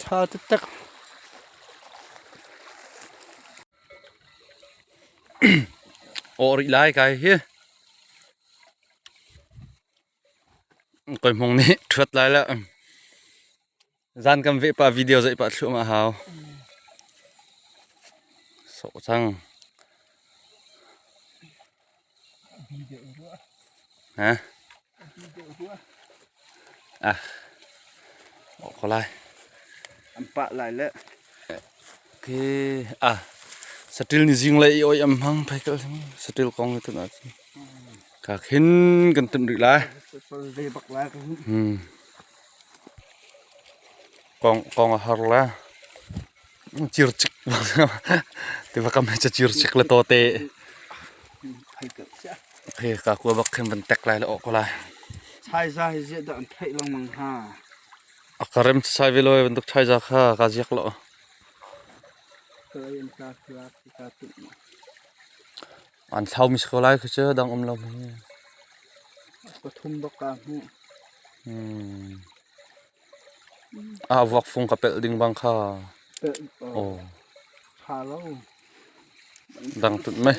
Ṭha taktak. Awh rih lai kai hi. Koi mong nih ṭhuat lai la. Zan kan veh pa video zei pa thluam a hau. So cang. An pah lai le. Okay. Ah. Satil ni jing le i oi am hang phai kal hing. Satil kong ni tun ati. Ka khin kan tun ri lai. Lei bak lai kan. Hmm. Kong kong a har la. Circik tiva kam he cacircik le tote. Hei ka kua bak khin van tek lai le awk lai. Chaiza hi ziah dah an theih lengmang ha. A karem sai ve loe van duk chaiza kha ka ziak lo. An thlau mi ko lai khi cu dang um lo mi. Ka thum bak ka hmu. Hmm. Ah vuakfung ka pelh ding bang kha aw dang tut meh.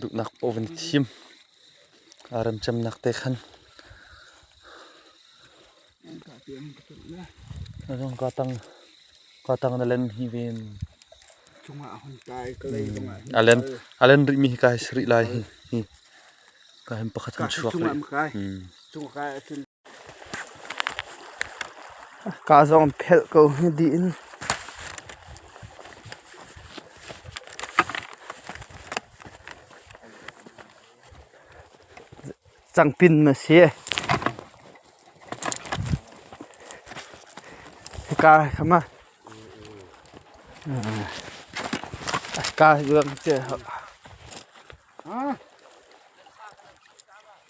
Duhnak paoh van i thim. Aa remcemnak te khan. Zong ka tang ka tang na len hi ven. A len a len rih mi hi kai sri lai hi hi. Ka hem pakhat kan chuak rih. Kaa zong phelh ko hi dih in. Cangpin na si. Hika khama. Ka juang che.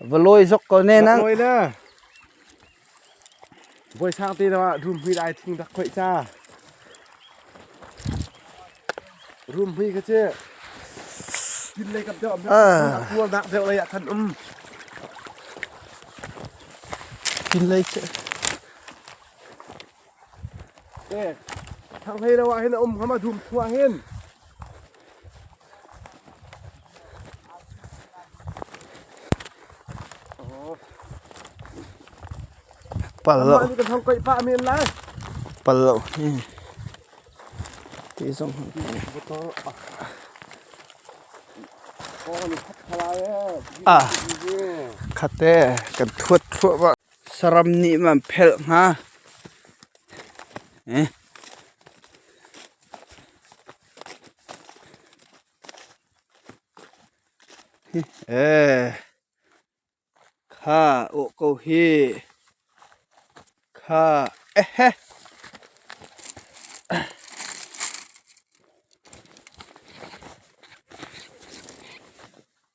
Va lawi zok ko ne na. Lawi na. Voi sang te na rum hmui dai thing dak khoi cha. Rum hmui ka che. Tin lei kap deuh. Kual nak deuh lei a than um. Tin lei che. Eh, thanghlei lo ah hin a um ngam a dum thua hin. Pal lo. Ni kan thong koi pa min lai. Pal lo. Ti zong. Oh ni khat khala eh. Ah. Khat te kan thuat thua ba. Saram nih man phelh hnga. Kha awh ko hi. Kha ehe.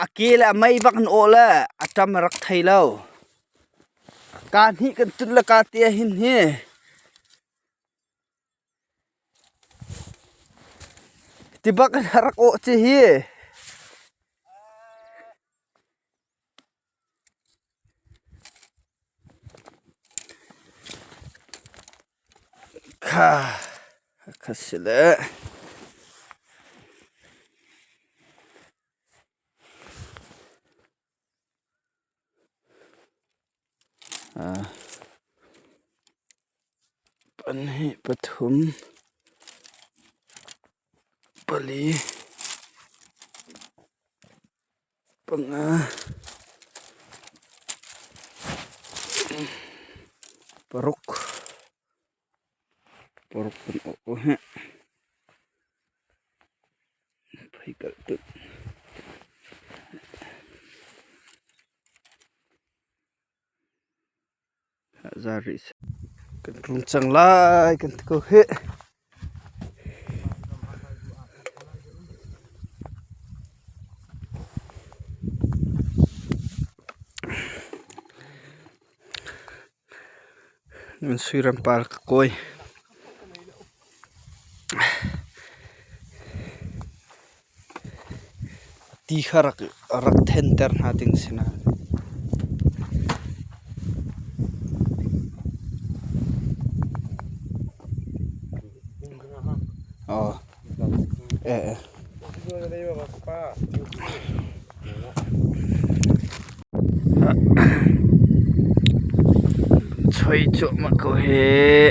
A ke le a mei bak an awh le a ṭam a rak thei lo. Ka hnih kan tlun le ka te ahin hi ti bak in a rak awh ci hi. Ka si leh. Pahnih, pathum, pali. Panga. Paruk. Paruk kan awh heh. Phai kalh tut. Kan tlung cang lai kan ti ko hih. Nan suiram par ka kawi. Ti kha rak thenter hna ding a si nain. Choi cuahmah ko hih.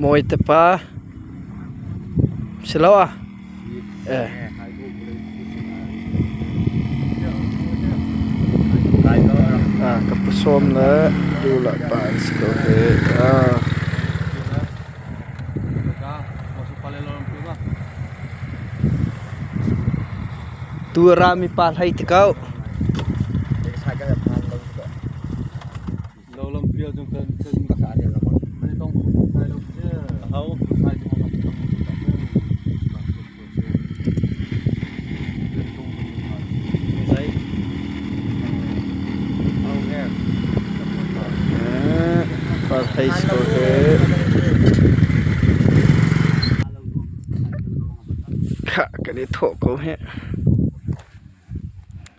Mawi te pa siloah ka pasawm le dula pa an si ko hi. Tu a ra mi pa hlei ti ko. Hei score ke. Kah kan i thawh ko heh.